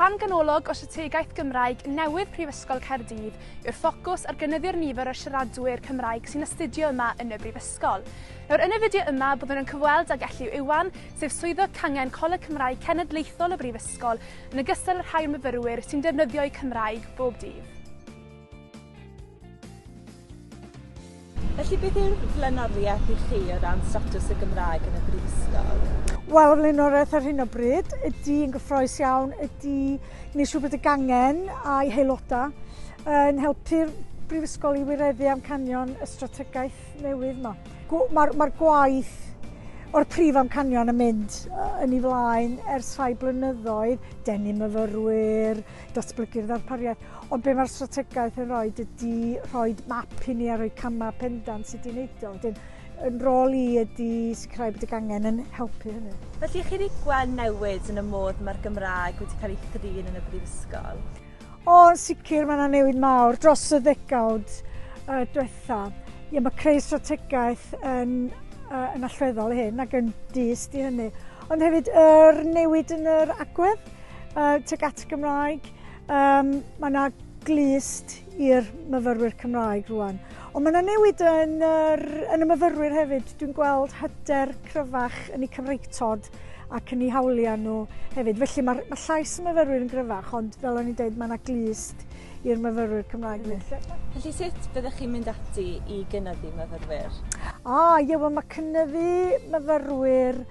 Rhan ganolog o strategaeth Gymraeg newydd Prifysgol Caerdydd yw'r ffocws ar gynyddu'r nifer o siaradwyr Cymraeg sy'n astudio yma yn y Brifysgol. Nawr, yn y fideo yma, byddwn yn cyfweld ag Elliw Iwan, sef Swyddog Cangen Coleg Cymraeg Cenedlaethol y Brifysgol, yn ogystal â rhai o'r myfyrwyr sy'n defnyddio'u Cymraeg bob dydd. Felly beth yw'r flaenoriaeth i chi o ran statws y Gymraeg yn y Brifysgol? Wel, y flaenoriaeth ar hyn o bryd ydy yn gyffroes iawn ydy gwneud siŵr bod y gangen a'i haelodau yn helpu'r Brifysgol i wireddu amcanion y strategaeth newydd yma. Mae'r ma gwaith o'r prif amcanion yn mynd yn ei flaen ers rhai blynyddoedd, denu myfyrwyr, datblygu'r ddarpariaeth. Ond be mae'r strategaeth yn rhoi ydy rhoi map i ni a rhoi camau pendant sut i'n neud o. Wedyn, yn rôl i ydy sicrhau bod y gangen yn helpu hynny. Felly chi wedi gweld newid yn y modd mae'r Gymraeg wedi cael ei thrin yn y Brifysgol? O, yn sicr, mae yna newid mawr dros y ddegawd uh, diwetha. Ie, mae creu strategaeth yn, uh, yn allweddol i hyn ac yn dyst i hynny. Ond hefyd, yr er newid yn yr agwedd uh, tuag at Gymraeg, Um, mae yna glist i'r myfyrwyr Cymraeg rwan. Ond mae yna newid yn, yr, yn y myfyrwyr hefyd. Dwi'n gweld hyder cryfach yn eu cyfreitod ac yn eu hawliau nhw hefyd. Felly mae, mae llais y myfyrwyr yn gryfach, ond fel o'n i'n dweud, mae yna glist i'r myfyrwyr Cymraeg. Felly sut byddech chi'n mynd ati i gynyddu myfyrwyr? Ah, ie, wel mae cynyddu myfyrwyr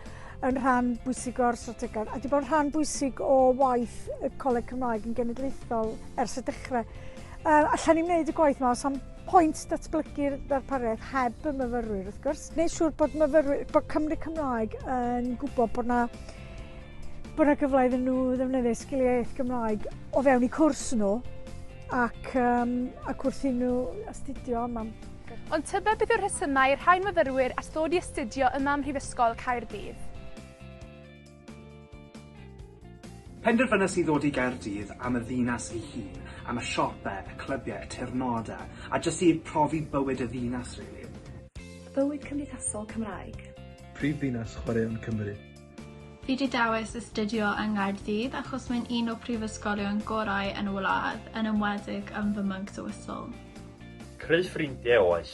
yn rhan bwysig o'r strategaeth a wedi bod yn rhan bwysig o waith y Coleg Cymraeg yn genedlaethol ers y dechrau. Uh, allan ni'n gwneud y gwaith yma, os am pwynt datblygu'r ddarpariaeth heb y myfyrwyr wrth gwrs. Neu siŵr bod, myfyrwyr, bod Cymru Cymraeg yn gwybod bod na bod yna gyfle iddyn nhw ddefnyddio sgiliau iaith Gymraeg o fewn eu cwrs nhw ac, um, ac wrth i nhw astudio yma. Ond tybed beth yw'r rhesymau i'r rhain myfyrwyr at ddod i astudio yma ym Mhrifysgol Caerdydd? Penderfynes i ddod i Gaerdydd am y ddinas ei hun, am y siope, y clybiau, y teyrnodau, a jyst i profi bywyd y ddinas, rili. Bywyd cymdeithasol Cymraeg. Prifddinas chwaraeon Cymru. Fi 'di dewis astudio yng Nghaerdydd achos mae'n un o prifysgolion gorau yn y wlad, yn enwedig yn fy Monks a Whistle. Creu ffrindie oes.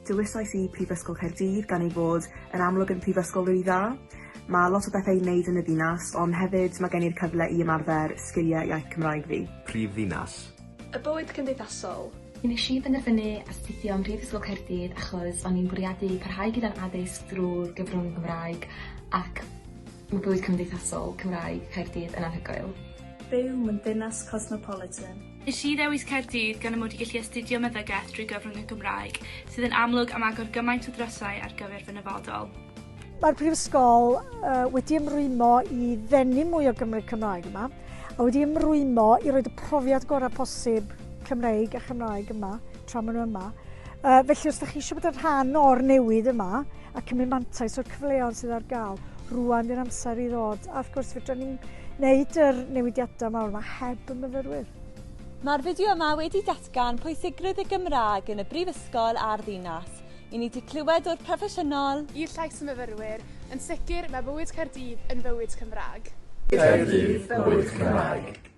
Dewisais i Prifysgol Caerdydd gan ei fod yn amlwg yn prifysgol rili dda. Mae lot o bethe i neud yn y ddinas ond hefyd mae gen i'r cyfle i ymarfer sgilie iaith Cymraeg fi. Prif ddinas Y bywyd cymdeithasol. Nes i benderfynu astudio ym Mhrifysgol Caerdydd achos o'n i'n bwriadu parhau gyda'n addysg drw'r gyfrwng Gymraeg ac ma' bywyd cymdeithasol Cymraeg Caerdydd yn anhygoel. Byw mewn dinas cosmopolitan. Nes i ddewis Caerdydd gan y mod i gallu astudio meddygaeth drwy gyfrwng y Gymraeg, sydd yn amlwg am agor gymaint o ddrysau ar gyfer fy nyfodol. Mae'r Prifysgol uh, wedi ymrwymo i ddenu mwy o Gymru Cymraeg yma, a wedi ymrwymo i roed y profiad gorau posib Cymreig a Chymraeg yma, tra maen nhw yma. Uh, felly os ydych chi eisiau bod yn rhan o'r newid yma a cymryd mantais o'r cyfleoedd sydd ar gael, rwan di'r amser i ddod. A wrth gwrs, fydra ni'n wneud yr newidiadau mawr yma heb y myfyrwyr. Mae'r fideo yma wedi datgan pwysigrwydd y Gymraeg yn y brifysgol a'r ddinas. I ni 'di clywed o'r proffesiynol. I'r llais y myfyrwyr, yn sicr, mae bywyd Caerdydd yn fywyd Cymraeg. Caerdydd, bywyd Cymraeg.